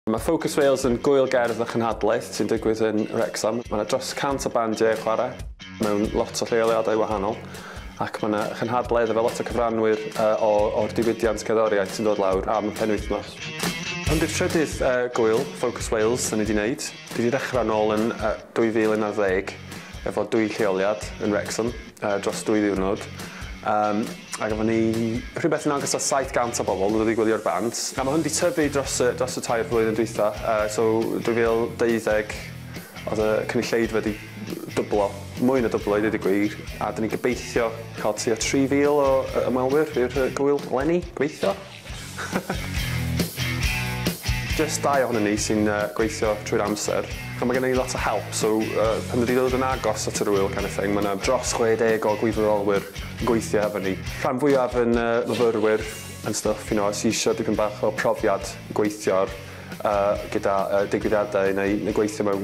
Mae Focus Wales yn gŵyl gerdd a chynhadledd sy'n digwydd yn Wrecsam. Mae 'na dros 100 o bandiau yn chwarae mewn lot o lleoliadau wahanol ac mae 'na chynhadledd efo lot o cyfranwyr o'r diwydiant cerddoriaeth sy'n dod lawr am y penwythnos. Hwn 'di'r trydydd gŵyl Focus Wales 'da ni 'di neud. Dwi 'di dechrau nôl yn 2011 efo dwy lleoliad yn Wrecsam. yy dros dwy ddiwrnod yym a gafon ni rhywbeth yn agos at 700 o bobl wedi gwylio'r band a ma' hwn 'di tyfu dros y dros y tair blwyddyn dwytha yy so 2012 odd y cynulleidfa 'di dwblo mwy na dwblo i ddeud y gwir a 'dyn ni'n gobeithio ca'l tua 3000 o yy ymwelwyr i'r yy gŵyl leni gobeithio. Jyst dau ohonyn ni sy'n yy gweithio trwy'r amser. Ch'mo' ma' gennon ni lot o help so yy pan dwi 'di dod yn agos at yr ŵyl kind of thing ma' 'na dros chwe deg o gwirfoddolwyr yn gweithio hefo ni. Rhan fwyaf yn yy fyfyrwyr and stuff you know sy isio dipyn bach o profiad i gweithio'r yy gyda yy digwyddiadau neu neu gweithio mewn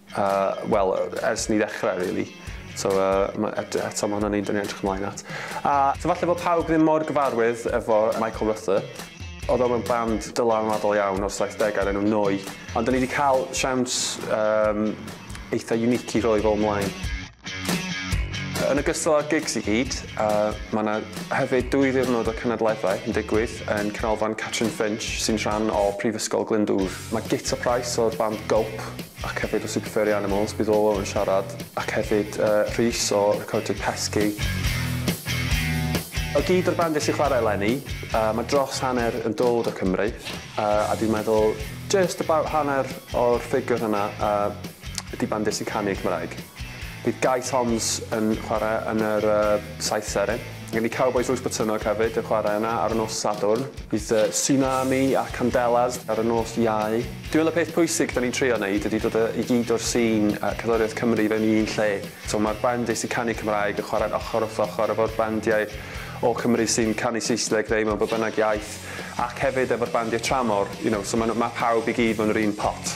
Yy, wel, ers ni ddechrau, rili. So, yy, eto, ma' hwnna'n un 'da ni'n edrych ymlaen at. A, so falle bod pawb ddim mor gyfarwydd efo Michael Ruther. Oedd o mewn band dylanwadol iawn o'r saithdegau o'r enw Neu! Ond 'da ni 'di cael siawns, yym, eitha' unique i roi fo ymlaen. Yn ogystal â'r gigs i gyd, uh, mae yna hefyd dwy ddiwrnod o cenedlaethau yn digwydd yn Canolfan Catrin Finch, sy'n rhan o Prifysgol Glyndŵr. Mae Gita Price o'r band Gulp ac hefyd o Super Furry Animals bydd Olo yn siarad, ac hefyd uh, Rhys o Recordiau Pesci. O gyd o'r bandiau sy'n chwarae eleni, uh, mae dros hanner yn dod o Cymru, uh, a dwi'n meddwl just about hanner o'r ffigwr hynna uh, ydy band Desi Canu Cymraeg. Bydd Gai Toms yn chwarae yn yr uh, saith seren. Gen i Cowboys Lwys Botynog hefyd yn chwarae yna ar y nos Sadwrn. Bydd uh, Tsunami a Candelas ar y nos Iau. Dwi'n meddwl y peth pwysig da ni'n trio wneud ydy dod i gyd o'r sîn a cadwriaeth Cymru fewn i un lle. So mae'r band Desi Canu Cymraeg yn chwarae'n ochr wrth ochr efo'r bandiau o Cymru sy'n canu Saesneg neu mewn bob bynnag iaith. Ac hefyd efo'r bandiau tramor, you know, so ma' nhw... ma' pawb i gyd mewn yr un pot.